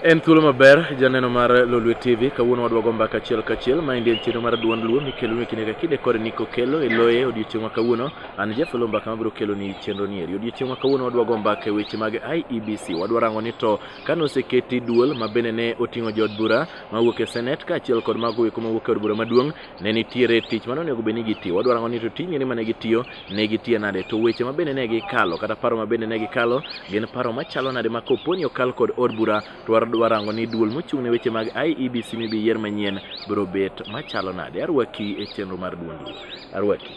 En thuolo maber janeno mar Lolwe TV kawuono wadwago mbaka achiel kachiel ma endi en chenro mar duond luo mikelo ni kinde ka kinde kod niko kelo e loye odiochieng' ma kawuono an jafelo mbaka mabiro kelo ni chenro ni eri odiochieng' ma kawuono wadwago mbaka e weche mag IEBC wadwa rango ni to Ka noseketi duol ma bende ne oting'o jood bura mawuok e Senate kaachiel kod mago eko mawuok e od bura maduong', ne nitiere tich mane onego bed ni gitiyo. Wadwa rango ni to tijni mane gitiyo ne gitiye nade, to weche ma bende ne gikalo kata paro ma bende ne gikalo gin paro machalo nade ma kopo ni okal kod od bura to wadwa rango ni duol mochung' ne weche mag IEBC mibi yier manyien biro bet machalo nade. Arwaki e chenro mar Duond Duol. Arwaki.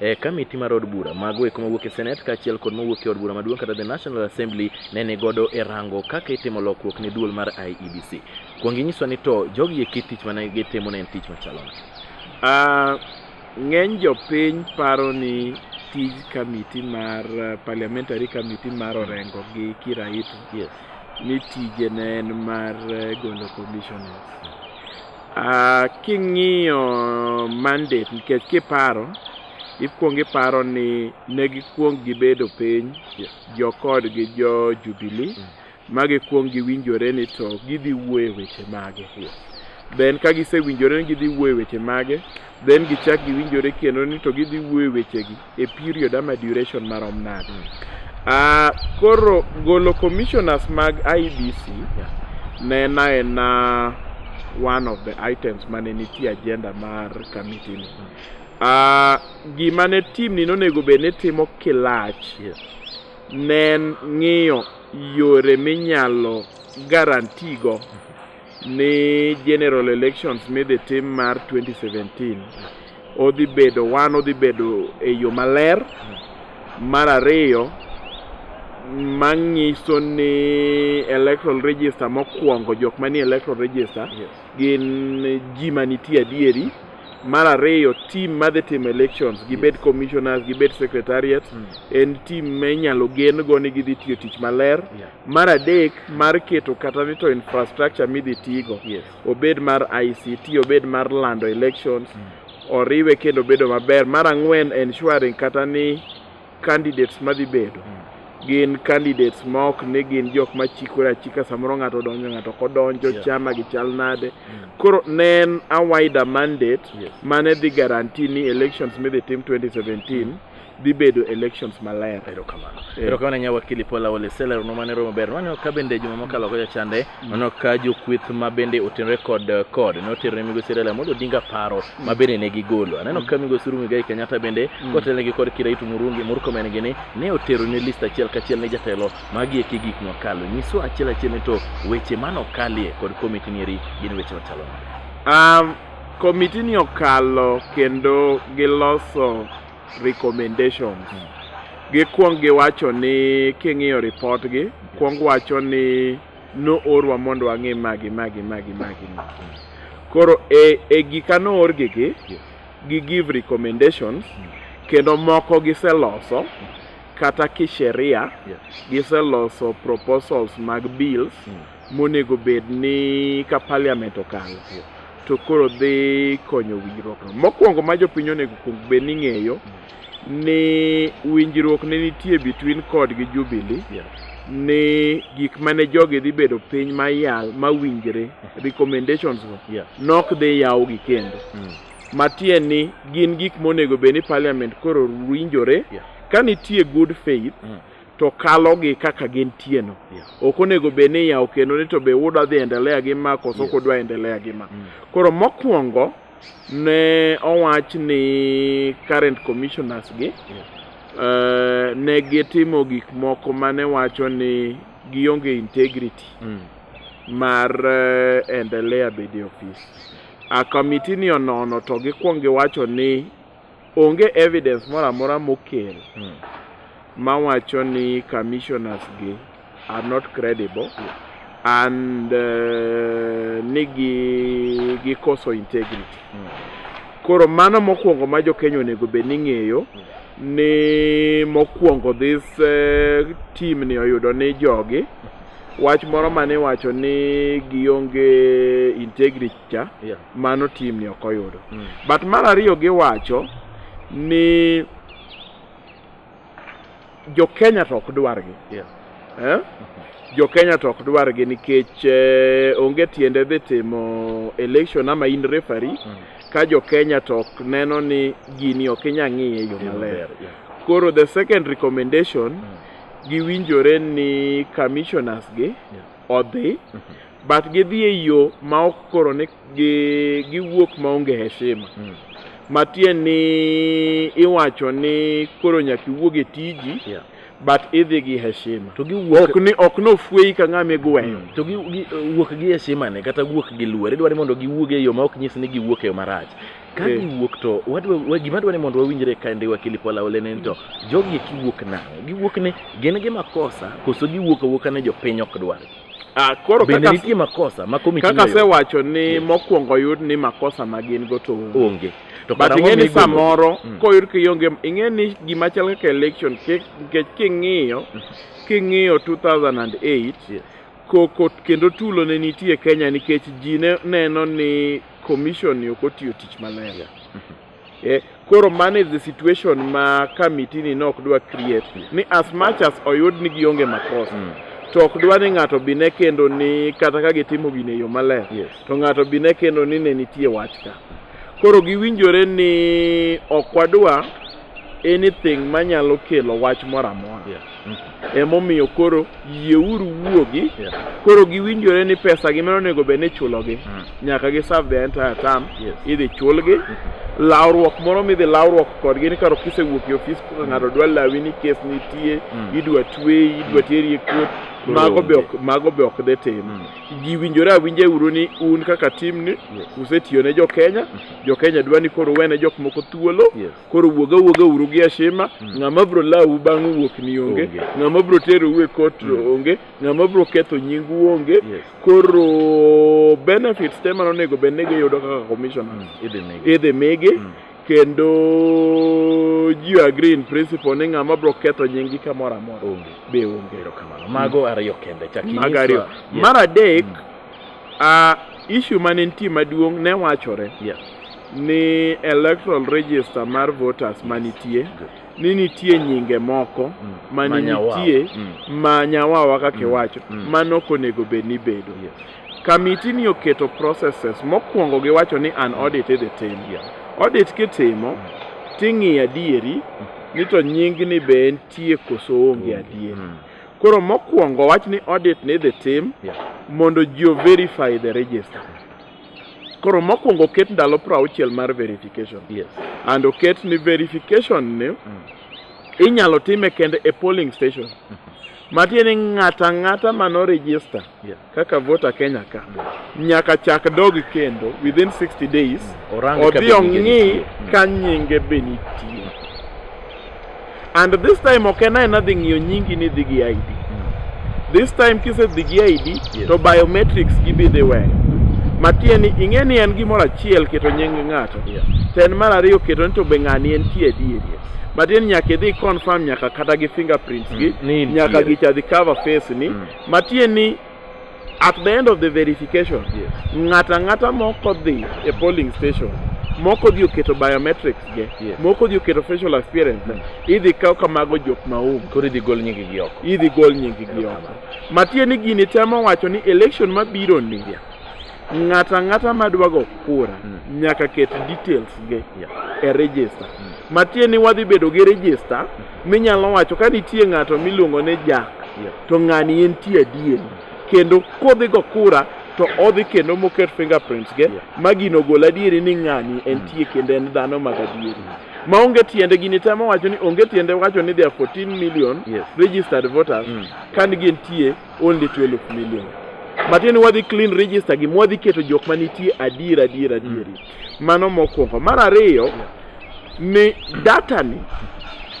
e kamiti mar od bura mago eko mawuok e Senate kaachiel kod mawuok e od bura maduong' kata the National Assembly ne ni godo e rango kaka itimo lokruok ne duol mar IEBC. Kuong inyiswa ni to jogi eki tich mane gitimo ne en tich machalo nade? Ah, ng'eny jopiny paro ni tij kamiti mar eh, parliamentary kamiti mar Orengo gi Kiraitu Yes. ni tije ne en mar eh, golo commissioners. Uh, king'iyo mandate nikech kiparo ikwong iparo ni ne gikwong gibedo piny jokod gi jo Jubilee mm. ma gikwong giwinjore ni to gidhi wuoye weche mage yeah. then ka gisewinjore ni gidhi wuoye weche mage then gichak giwinjore kendo ni to gidhi wuoye wechegi e period ama duration marom nade uh, koro golo commissioners mag IBC yeah. nena ena one of the items mane nitie agenda mar committee ni mm. uh, gima ne team ni nonego bed ni timo kilach yeah. ne en ng'iyo yore minyalo garantigo mm -hmm. ni general elections midhi tim mar 2017 odhi bedo wan odhi bedo e yo maler mar ariyo manyiso ni electoral register mokwongo jok manie electoral register yes. gin ji manitie adieri mar ariyo tim madhi timo elections gibed yes. commissioners gibed secretariat mm. en tim minyalo gen go ni gidhi tiyo tich maler yeah. Mar adek mar keto kata ni to infrastructure midhi tigo yes. obed mar ICT obed mar lando elections mm. oriwe kendo bedo maber. Mar ang'wen ensuring kata ni candidates madhi bedo mm gin candidates ma ok ni gin jok ma chikore achika samoro ng'ato donjo ng'ato ok odonjo yeah. chama gi chal nade mm. koro ne en a wider mandate yes. mane dhi guarantee ni elections midhi tim 2017 mm. dhi bedo elections maler. Erokamano. Eh. Erokamano nya wakili Paul Awole Seller no mane romo ber. Mano ka bende juma mokalo ko chande mm. mano ka jokweth ma bende otenre kod eh, kod no tere migo Sirela mondo dinga paro mm. ma bende ne gigolo. Aneno mm. ka migo Surumi Gai Kenyatta bende kotelne gi kod Kiraitu Murungi Murkomen gini ne otero ne list achiel kachiel ne jatelo magi e gik mokalo. Nyiso achiel achiel ni to weche mano kalie kod komiti ni eri gin weche matalo. Um, komiti ni okalo kendo giloso recommendations. Gikwong giwacho ni king'iyo report gi, kwong wacho ni no orwa mondo wang'e magi magi magi magi. Koro e, e gika no or gi gi, gi give recommendations kendo moko giseloso kata kisheria giseloso proposals mag bills monego bed ni ka parliament okalo to koro dhi konyo winjruok no. Mokwongo ma jopiny onego kuong bed ni ng'eyo ni winjruok ne nitie between kod gi Jubilee yeah. ni gik mane jogi dhi bedo piny mayal mawinjre mm. recommendations go yeah. nok dhi yawgi kendo mm. matie ni gin gik monego bed ni parliament koro winjore yeah. ka nitie good faith mm. to kalogi kaka gintieno Yeah. ok onego bed ni yawo kendo ni to be wuda dhi endelea gi ma koso Yes. kudwa endelea gi ma Mm. koro mokwongo ne owach ni current commissioners gi eh, ne gitimo gik moko mane wacho ni gionge integrity Mm. mar eh, endelea bedo e ofis a kamitini onono to gikwong giwacho ni Onge evidence moro amora mokel mawacho ni commissioners gi are not credible and uh, ni gi gikoso integrity. Koro mano mokwongo ma jo-Kenya onego bed ni ng'eyo ni mokwongo this uh, team ni oyudo ni jogi wach moro mane iwacho ni gionge integrity cha Yeah. mano tim ni ok oyudo Mm. but mar ariyo giwacho ni jo Kenya to ok dwargi Yeah. eh? jo Kenya to ok dwargi nikech eh, onge tiende dhi timo election ama in referee Mm. ka jo Kenya to ok neno ni gini ok inya ng'iye e yo Tim maler maber, yeah. koro the second recommendation Mm. giwinjore ni commissioners gi odhi but gidhi e yo ma ok koro ni gi- giwuok maonge heshima matiend ni iwacho ni koro nyaka iwuog e tiji Yeah. but idhi gi heshima To giwuok- ok ni ok nofweyi ka ng'ama igweyo to gi, gi, wuok gi heshima ne kata wuok gi luor idwaro ni mondo giwuog e yo ma ok nyis ni giwuok e yo marach ka Eh. giwuok to wadwa- wa- gima dwa ni mondo wawinjre ka ndi wakili Paul Aole ni to jogi eki wuok nang'o giwuok ni gin gi makosa koso giwuok awuoka ni jopiny ok dwar Ah, koro bende kaka nitie makosa ma komiti kaka noyudo? asewacho ni Yes. mokwongo yud ni makosa ma gin go to onge. onge to but karang'o ing'e ni migolo? samoro Mm. koyud kionge ing'e ni gima chal kaka election ke- nikech king'iyo king'iyo 2008 Yes. koko kendo tulo ne nitie kenya nikech ji ne neno ni Commission ni ok otiyo tich maler. Yeah. Eh, koro man is the situation ma committee ni nok dwa create ni as much as oyud ni gionge makosa mm. to ok dwa ni ng'ato bi ne kendo ni kata ka gitimo gine yo maler yes. to ng'ato bi ne kendo ni ne nitie wach ka koro giwinjore ni ok wadwa anything manyalo kelo wach moro amora yeah. Mm-hmm. Emomiyo koro yieuru wuogi. Yeah. Koro giwinjore ni pesa gi mano onego bed ni ichulogi. Mm. Nyaka gi serve the entire term. Yes. Idhi chulgi. Mm -hmm. Lawruok moro midhi lawruok kodgi ni karo kisewuok e ofis kaka mm. ng'ato dwa lawi ni kes nitie, mm. idwa tweyi, idwa mm. teri e kot. Mago be ok mago be ok de tim. Mm. Giwinjore awinja e uru ni un kaka team ni yes. usetiyo ne jo Kenya. Mm-hmm. Jo Kenya dwa ni koro wene jok moko thuolo. Yes. koro wuoga wuoga uru gi ashima mm. ng'ama bro lawu bang' wuok ni onge ng'ama bro tero uwe kot mm. onge ng'ama bro ketho nyingu onge koro benefits te mano onego bed ni giyudo kaka commissioner mm. idhi migi kendo ji agree in principle ni ng'ama bro ketho nyingi kamoro amora be onge mago ariyo kende mago ariyo mar adek uh, issue mane nitie maduong' ne wachore yeah. ni electoral register mar voters manitie ni nitie nyinge moko mm. ma nitie mm. ma nyawawa kaka mm. iwacho mm. ma nok onego bed ni bedo yes. kamiti ni oketo processes mokwongo giwacho ni an audit idhi tim yeah. audit kitimo mm. ting'iyo adieri mm. ni to nyingni be entie koso onge adieri mm. koro mokwongo wach ni audit ni idhi tim yeah. mondo ji overify the register Koro mokwongo oket ndalo prauchiel mar verification. Yes. And oket ni verification ni mm. inyalo time kende e polling station. Mm -hmm. matiende ng'ata ng'ata mano register yeah. kaka voter Kenya ka yeah. nyaka chak dog kendo within 60 days mm. odhi ong'i ka nyinge be nitie And this time ok en aena dhi ng'iyo nyingi ni dhi gi ID. This time kisedhi gi ID Yes. to biometrics gibidhi weyo. Matie ni ing'e ni en gimoro achiel keto nying ng'ato. Yeah. To en mar ariyo keto ni to be ng'ani en tie adieri. Matie ni nyaka idhi confirm nyaka kata gi fingerprints gi, Mm, ni in nyaka tiere. gicha dhi cover face ni. Mm. Matie ni At the end of the verification, yes. ng'ata ng'ata moko dhi e polling station moko dhi oketo biometrics ge yes. moko dhi oketo facial appearance mm. idhi kaw kamago jok maum koro idhi gol nyingi gi oko idhi gol nyingi gi oko matie ni gini temo wacho ni election mabiro ni yeah. Ng'ato ang'ata ma dwa go kura mm. nyaka ket details ge yeah. e register. Mm. Matie ni wadhi bedo gi register mm. minyalo wacho ka nitie ng'ato miluongo ni Jack yeah. to ng'ani en tie adier mm. kendo kodhi go kura to odhi kendo moket fingerprints ge yeah. ma gino gol adieri ni ng'ani en mm. tie kendo en dhano mag adieri. Mm. ma onge tiende gini temo wacho ni onge tiende wacho ni there are 14 million yes. registered voters mm. kan gintie only 12 million matiende wadhi clean register gi mwadhi keto jok ma nitie adier adier adieri mm. mano mokwongo mar ariyo yeah. ni data ni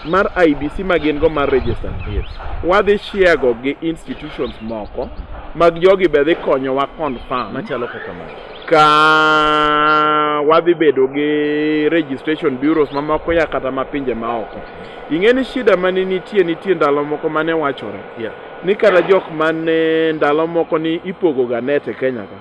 mar IBC ma gin go mar register yes. wadhi share go gi institutions moko mag jogi be dhi konyowa confirm machalo kaka mano ka wadhi bedo gi registration bureaus mamoko ya kata ma pinje maoko ing'e ni shida mane nitie nitie ndalo moko mane wachore yeah. ni kata jok mane ndalo moko ni ipogo ga net e Kenya ka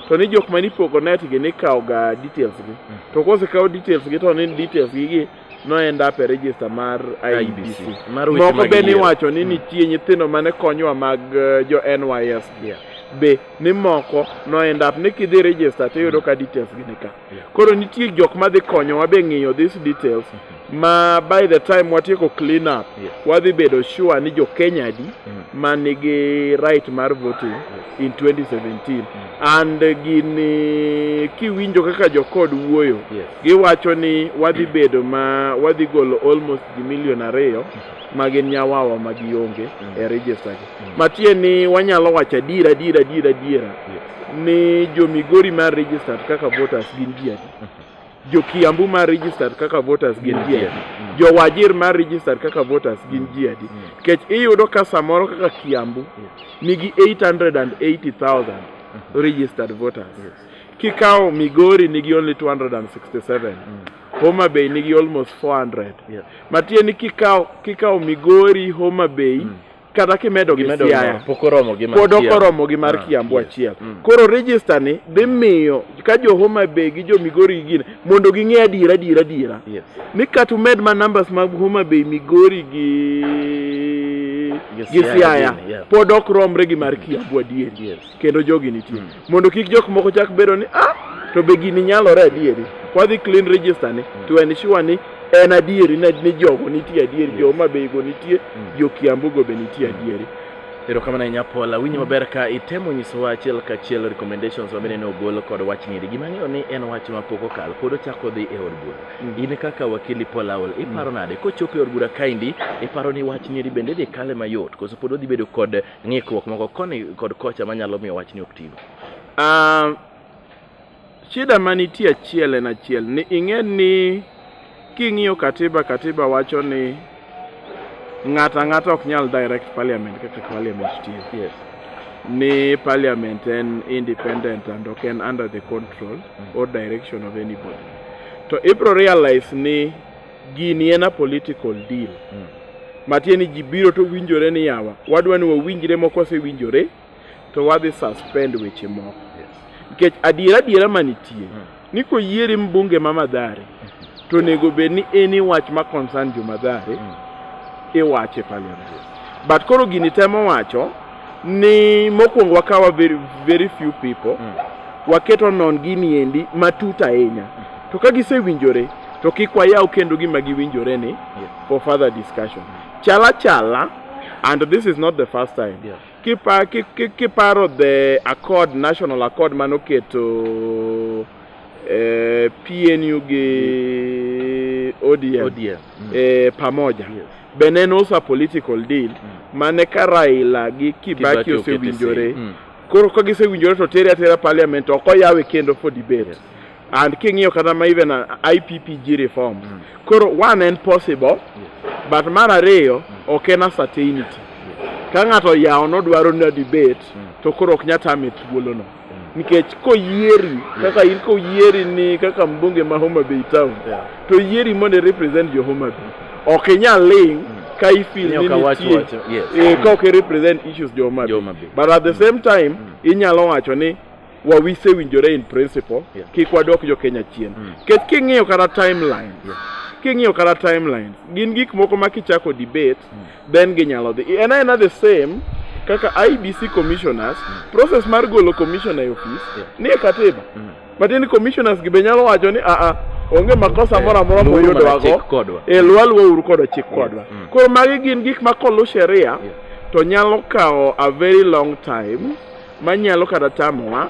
to ni jok mane ipogo net gi ni kawo ga details gi to kose kawo details gi to ni details gi gi no end up e register mar IBC IBC. Mar weche moko mag be ni yiero. wacho ni nitie nyithindo mane konyowa mag eh, jo NYS Yeah. be ni moko no end up ni kidhi register to iyudo ka details gi ni ka Koro nitie jok ma dhi konyowa be ng'iyo these details ma by the time watieko clean up Yes. wadhi bedo sure ni jo Kenya adi ma nigi right mar voting in 2017 and gini kiwinjo kaka jo kod wuoyo Yes. giwacho ni wadhi bedo ma wadhi golo almost ji milion ariyo ma gin nyawawa ma gionge e register gi matie ni wanyalo wacho adiera adiera adiera adiera Yes. ni jo Migori ma registered kaka voters gin ji adi? Jo Kiambu ma registered kaka voters gin ji adi? Jo Wajir ma registered kaka voters gin ji adi? Kech iyudo ka samoro kaka Kiambu nigi 880,000 registered voters. Kikawo Migori nigi only 267. Homa Bay nigi almost 400. Matieni kikawo kikawo Migori, Homa Bay, kata kimedo gi Siaya pod ok oromo gi mar ah, Kiambu achiel. Mm. Koro register ni dhi miyo ka jo Homa Bay gi jo Migori gin mondo ging'e adiera adiera adiera. Ni kata umed ma numbers mag Homa Bay, Migori gi gi Siaya pod ok romre gi mar Kiambu adieri. kendo jogi nitie mm. mondo kik jok moko chak bedo ni ah to be gini nyalore adieri wadhi clean register ni mm. to en sure ni en adieri ni jogo nitie adieri jo ma be go nitie mm. jo kiambu go be nitie mm. adieri erokamano ahinya pola winjo mm. maber ka itemo nyisowa achiel ka achiel recommendations mabende ne ogol kod wach ng'iri gima ng'eyo ni en wach ma pok okal pod ochako dhi e od bura mm. in kaka wakili paul aol mm. iparo nade kochopo e od bura kaendi iparo ni wach ng'iri bende dhi kale mayot koso pod odhi bedo kod ng'ikruok moko koni kod kocha manyalo miyo wachni ok tigo. Ah, shida manitie achiel en achiel ni ing'e ni king'iyo katiba katiba wacho ni ng'ato ang'ata ok nyal direct parliament kaka parliament tiyo Yes. ni parliament en independent and ok en under the control or direction of anybody to ibro realize ni Gini en a political deal. Mm. Matie ni ji biro to winjore ni yawa. Wadwa ni wawinjre moko osewinjore to wadhi suspend weche moko. Yes. Nikech adiera adiera manitie mm. ni koyieri mbunge ma Madhare mm -hmm. to onego bed ni eni wach ma concern jo Madhare mm. iwache parliament. But koro gini temo wacho ni mokwongo wakawa very, very few people mm. waketo non gini endi matut ahinya mm. to ka gisewinjore to kik wayaw kendo gima giwinjore ni yes. for further discussion mm. chala chala and this is not the first time yes. kiparo ki, ki, ki the accord national accord manoketo eh, PNU gi ODM, ODM. Mm. Eh, pamoja yes. be ne nosa political deal mm. mane ka Raila gi Kibaki osewinjore mm. koro ka gisewinjore to tere atera parliament ok oyawe kendo for debate yes. and king'iyo kata ma even IPPG reform mm. koro one en possible yes. but mar ariyo mm. ok en a certainty yes. ka ng'ato yawo nodwaro na debate mm. to koro ok nyatame thuolono nikech koyieri kaka in koyieri ni kaka mbunge ma Homa Bay town Yeah. to yieri mondo i represent jo Homa Bay ok inyal ling ka ifil Ni ni ok awach nitie wacho, yes. eh, ka ok i represent issues jo Homa Jo Homa Bay Bay. but at the same time inyalo wacho ni wawise winjore in principle Yeah. kik wadok jo Kenya chien nikech king'iyo kata timeline king'iyo kata timelines gin gik moko ma kichako debate then ginyalo dhi en aena the same kaka IBC commissioners mm. process mar golo commissioner e office yeah. nie katiba mm. but in commissioners gi be nyalo wacho ni aa ah, ah, onge makosa eh, moro amora moyudwago e eh, lwalwa uru kodo chik kodwa mm. koro magi gin gik ma kolu sheria to nyalo kawo a very long time manyalo kata tamowa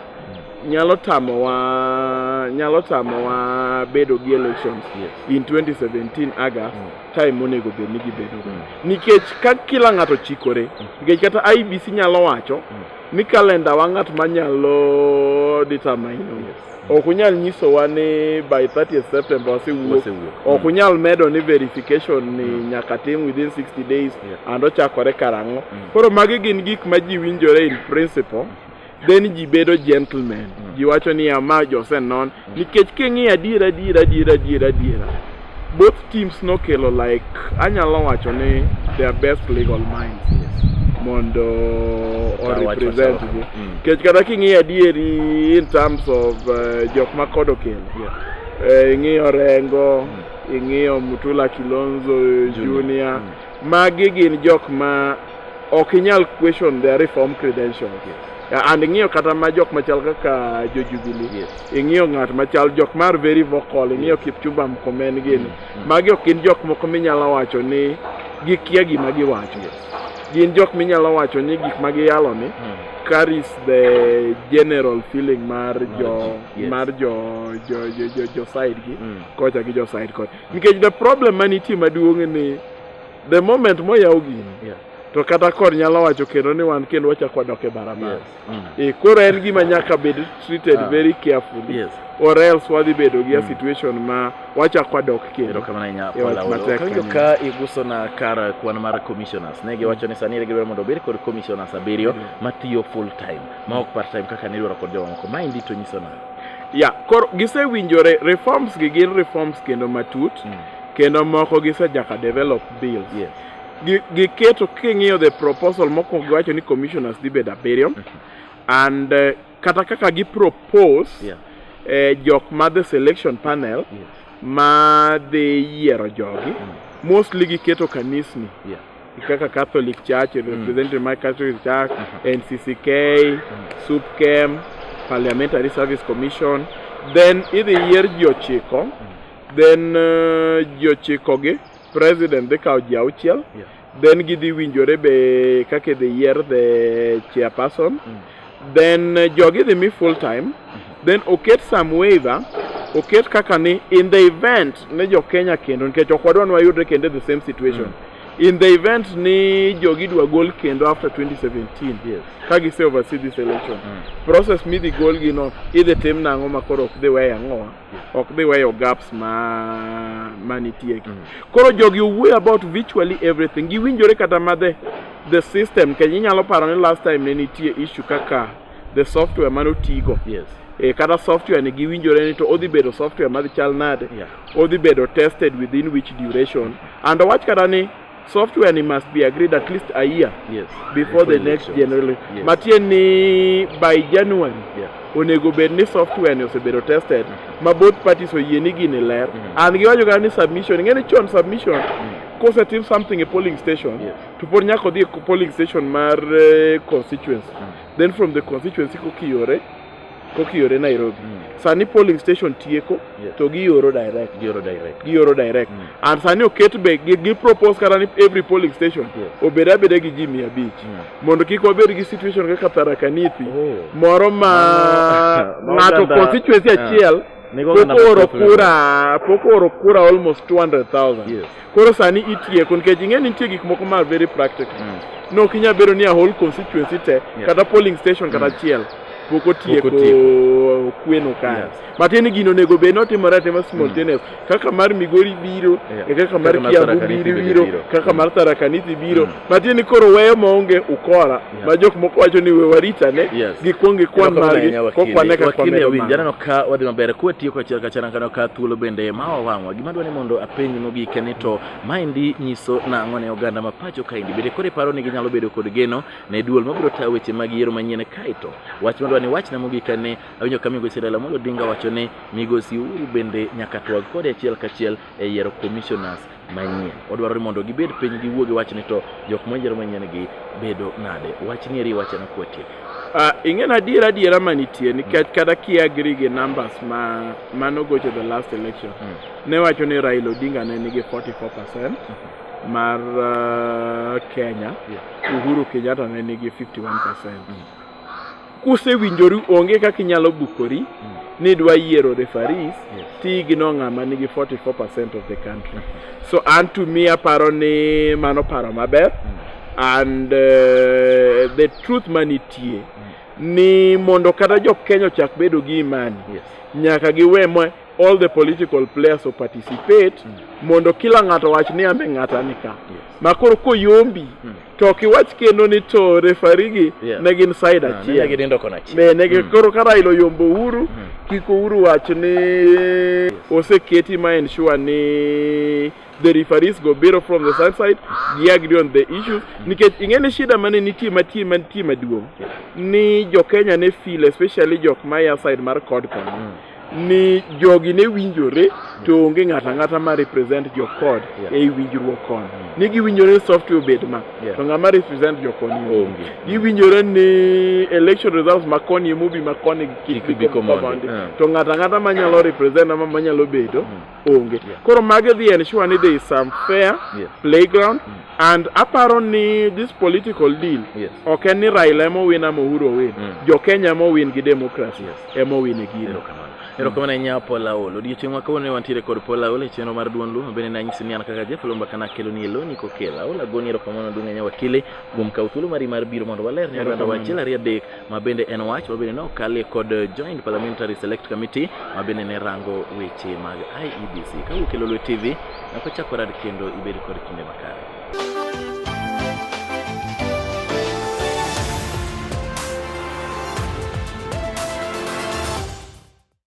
mm. nyalo tamowa nyalo tamowa bedo gi elections yes. in 2017 August mm. time monego bed ni gibedo mm. nikech ka kila ng'ato chikore mm. nikech kata IBC nyalo wacho mm. ni kalenda wa ng'at manyalo determine yes. ok unyal nyisowa ni by 30 September wasewuok ok mm. unyal medo ni verification ni mm. nyaka tim within 60 days yeah. and ochakore karang'o mm. koro magi gin gik ma ji winjore in principle mm. then ji bedo gentlemen mm. ji wacho niya ma jose non mm. nikech king'iyo adiera adiera adiera adiera adiera both teams nokelo like anyalo wacho ni their best legal minds mondo orepresent gi mm. nikech mm. kata king'iyo adieri in terms of uh, jok ma kod okelo yeah. uh, ing'iyo rengo mm. ing'iyo mutula kilonzo junior, junior. Mm. Magi gin jok ma ok inyal question their reform credentials. Yes. And ing'iyo kata ma jok machal kaka jo Jubilee. Yes. Ing'iyo ng'at machal jok mar very vocal, ing'iyo Kipchumba Murkomen gini. Mm. Magi ok gin jok moko minyalo wacho ni gikia gima giwacho. Yes. Gin jok minyalo wacho ni gik ma giyalo ni mm. carries the general feeling mar jo yes. mar jo jo jo jo, jo side gi mm. kocha gi jo side kocha. Nikech the problem manitie maduong' ni the moment moyaw gini yeah. to kata kod nyalo wacho kendo ni wan kendo wachako wadok e barabara yes. mm. e, koro en gima nyaka bed treated uh, very carefully yes. or else wadhi bedo gi mm. situation ma wachako wadok kendo e ka iguso na kar kwan mar commissioners ne giwacho ni sani gidwaro mondo obed kod commissioners abiriyo mm. matiyo full time ma ok part time kaka nidwaro kod jomamoko maendi to nyiso nade ya koro gisewinjore reforms gi gin reforms kendo matut mm. kendo moko gisejaka develop bill yes. giketo king'iyo the proposal mokwongo giwacho ni commissioners dhi bedo abiriyo mm-hmm. and uh, kata kaka gipropose yeah. eh, jok ma the selection panel yes. ma dhi yiero jogi mm. mostly giketo kanisni yeah. kaka Catholic Church it was presented in my Catholic Church, NCCK, SUPKEM, Parliamentary Service Commission. Then idhi yier ji ochiko, then uh, ji ochiko gi president dhi kawo ji auchiel, then gidhi winjore be kaka idhi yier the chairperson. then uh, jogi idhi mi full time then oket some waiver oket kaka ni in the event ne jo Kenya kendo nikech ok wadwa ni wayudre kendo the same situation mm. in the event ni jogi dwa gol kendo after 2017 yes. ka gise oversee this election mm. process midhi golgi no idhi tim nang'o ma koro ok dhi weyo ang'owa ok dhi weyo gaps ma ma nitie ki. Koro jogi owuoyo about virtually everything. Giwinjore kata ma the the system kenya inyalo paro ni last time ne nitie issue kaka the software mane otigo. Yes. E, kata software ni giwinjore ni to odhi bedo software madhi chal nade Yeah. odhi bedo tested within which duration and owach kata ni software ni must be agreed at least a year yes. before the next general yes. matie ni by January yeah. onego bed ni software ni osebedo tested mm -hmm. ma both parties oyie ni gini ler mm -hmm. and giwacho kata ni submission ing'e ni chon submission mm -hmm. kosetim something e polling station yes. to pod nyaka odhi e polling station mar uh, constituency mm -hmm. then from the constituency kokiyore kokiore Nairobi mm. sani polling station tieko yes. to gioro direct gioro direct gioro direct mm. and sani oket be gi, gi propose kata ni every polling station yes. obed abeda gi ji mia abich mm. mondo kik wabed gi situation kaka Tharaka Nithi oh. moro ma ng'ato constituency ah. achiel pok ooro kura pok ooro kura almost 200,000 yes. Koro sani itieko nikech ing'e ni nitie gik moko ma very practical. Mm. Ne ok inyal bedo ni a whole constituency te yeah. kata polling station kata mm. achiel mm. pok otieko kweno kae yes. matiende gino onego bed notimore atima simultaneous mm. kaka mar migori biro yeah. e kaka mar kiambu biro biro kaka mm. mar tharakanithi biro mm. matiende koro weyo maonge ukora yeah. ma jok moko wacho ni we warita ne yes. gikwong gikwan margi kokwane ka kwamedo winjo janeno ka wadhi maber kuwe tiyo kachiel kachiel kano ka thuolo bende ma wawang'wa gima dwa ni mondo apenj mogike ni to maendi nyiso nang'o ne oganda ma pacho kaendi bende koro iparo ni ginyalo bedo kod geno ne duol mabiro tayo weche mag yiero manyien kaeto wach madwa ni wachna mogika ni awinjo ka migosi Raila Amolo Odinga wacho ni migosi Uhuru bende nyaka twag kode achiel kachiel e yiero commissioners manyien. Odwaro ni mondo gibed piny giwuo gi wachni to jok moyiero manyien gi bedo nade. Wach ni eri wachana kuatie. Uh, ing'en adiera adiera manitie nikech mm. kata ki agree gi numbers ma mano gocho the last election mm. ne wacho ni Raila Odinga ne nigi 44% mm -hmm. mar uh, Kenya yeah. Uhuru Kenyatta ne nigi 51% mm. Kusewinjoru onge kaka inyalo bukori mm. ni dwa yiero referees yes. ti igno ng'ama nigi 44% of the country so an to me aparo ni mano paro maber mm. and uh, the truth manitie mm. ni mondo kata jo Kenya ochak bedo gi imani yes. nyaka giwe mwe all the political players o participate mm. mondo kila ng'ato wach ni ambe ng'ata nika yes. makoro koyombi mm. to ok iwach kendo ni to refari gi yeah. ne gin side ah, achiel negi dindo kona achiel ne negi mm. koro ka Raila oyombo Uhuru mm. kik Uhuru wach ni yes. oseketi ma ensure ni the referees go biro from the side side gi agree on the issues mm. nikech ing'e ni shida mane nitie matie mantie maduong' ni jo Kenya ne feel especially jok maya side mar cod koni mm. ni jogi ne winjore to onge ng'ato ang'ata ma represent jokod yeah. ei winjruok koni mm. ni giwinjore ni software obed ma yeah. to ng'ama represent jokoni onge giwinjore ni election results ma koni emobi ma koni kik bi yeah. to ng'ato ang'ata manyalo represent ama manyalo bedo mm. onge yeah. koro mage dhi ensure ni there is some fair yes. playground mm. and aparo ni this political deal yes. ok en ni Raila ema owin ama Uhuru owin mm. jo Kenya ema owin gi democracy yes. ema owin e gino erokamano ahinya Paul Aol odiochieng' ma kawuono wantiere kod Paul Aol e chenro mar duond Luo bende nanyisi ni an kaka Jeff Lomba kana akelo ni eloni kokela Aol agoni erokamano duong' ahinya wakili kuom kawo thuolo mari mar biro mondo waler ne oganda wachiel ariyo adek ma bende en wach ma bende ne okalie kod Joint Parliamentary Select Committee ma bende ne rango weche mag IEBC. Ka wuok e Lolwe TV, nyaka chako rad kendo ibed kod kinde makare.